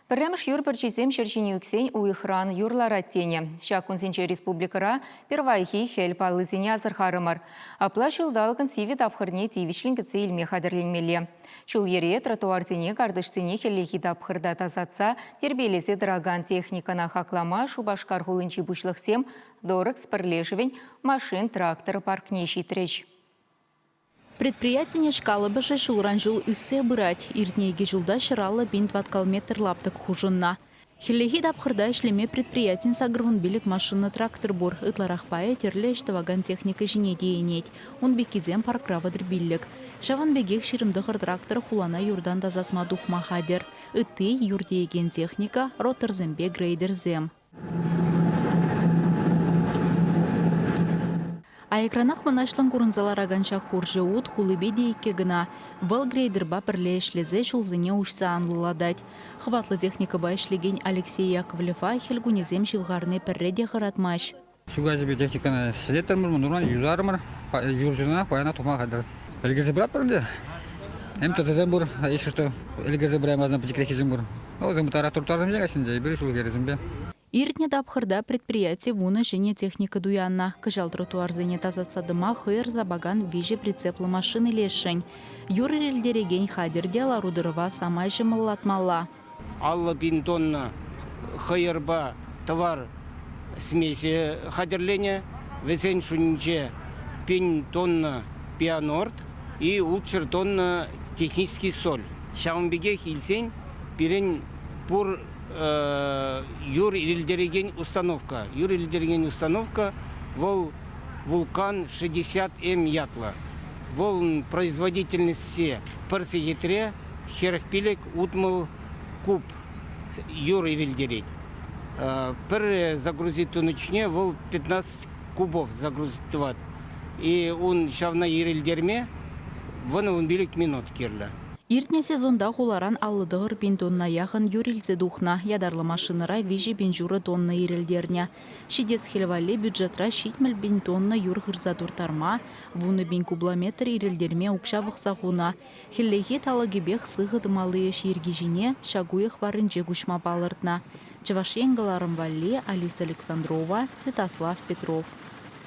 Пӗрремӗш юр пӗрчисем ҫӗр ҫине ӳксен уйӑхран юр ларать тенӗ. Ҫак кунсенче республикӑра пирвайхи хӗл паллисене асӑрхарӑмӑр. Апла ҫулталӑкӑн сивӗ тапхӑрне тивӗҫлӗн кӗтсе илме хатӗрленмелле. Ҫул-йӗре, тротуарсене, картишсене хӗллехи тапхӑрта тасатса, тирпейлесе тӑракан техникӑна хаклама Шупашкар хулинчи пуҫлӑхсем Дорекс пӗрлешӗвӗн машин-трактор паркне ҫитрӗҫ. Предприятинеж калӑпӑшӗ ҫулран-ҫул ӳссе пырать. Иртнӗ икӗ ҫулта ҫӗр-аллӑ пин тӑваткал метр лаптӑк хушӑннӑ. Хӗллехи тапхӑрта ӗҫлеме предприятин сакӑрвунпилӗк машина-трактор пур. Ытларах пайӗ тӗрлӗ ӗҫ тӑвакан техника ҫине тиенет. Ун пеккисем паркра вӑтӑрпиллӗк. Ҫавӑн пекех ҫирӗм-тӑхӑр трактор хулана юртан тасатма тухма хатӗр. Ытти, юр тиекен техника, ротторсемпе грейдерсем. Аякранах мӑнаҫлӑн курӑнса ларакан ҫак хурҫӑ ут хулипе те иккӗ кӑна. Вӑл грейдерпа пӗрле ӗҫлесе ҫулсене уҫса анлӑлатать. Хӑватлӑ техникӑпа ӗҫлекен Алексей Яковлева хӗл кунӗсем ҫывхарни пӗрре те хӑратмасть. Ҫу каҫипе техникӑна ҫӗлеттӗмӗр, мӑнуран юсарӑмӑр. Юрҫӑнах паяна тума хатӗр. Ӗлкӗрсе пыратпӑр ӗнтӗ. Эм тӑсасем пур, ишӗр то ӗлкӗрсе пыраймасӑн пӗчӗкреххисем пур. Вӑл трактор тутарсемпе каҫсенче, эпир ҫулхересемпе. Иртнӗ тапхӑрта предприяти вунӑ ҫӗнӗ техника туяннӑ. Кӑҫал тротуарсене тасатса тӑма хӑйӑр сапакан виҫӗ прицеплӑ машина илесшӗн. Юр ирӗлтерекен хатӗр те лару-тӑрӑва самай ҫӑмӑллатмалла. Аллӑ пин тонна хӑйӑрпа тӑвар смеси хатӗрленӗ. Вӗсен шутӗнче пин тонна пианорт и ултҫӗр тонна технический соль. Ҫавӑн пекех илсен пирӗн пур юр илтерекен установка. Юр илтерекен установка вӑл Вулкан 60М ятлӑ. Вӑл производительности пӗр сехетре хӗрӗх пилӗк, утмӑл куб юр вилтерет. Пӗр загрузи тунӑчне вӑл 15 кубов загрузить тӑвать. И ун ҫавна ирӗлтерме вӑнӑ-вӑн пилӗк минут кирлӗ. Иртнӗ сезонта хуларан аллӑ тӑхӑр пин тонна яхӑн юр илсе тухнӑ. Ятарлӑ машинӑра виҫӗ пин ҫурӑ тонна ирӗлтернӗ. Ҫитес хӗл валли бюджетра ҫитмӗл пин тонна юр хырса турттарма, вунӑ пин кубометр ирӗлтерме укҫа пӑхса хунӑ, Хӗллехи талӑкӗпех сыхӑ тӑмалли ӗҫ йӗрки ҫине ҫак уйӑх варринче куҫма палӑртнӑ Чӑваш Ен кӑларӑм валли Алиса Александрова, Святослав Петров.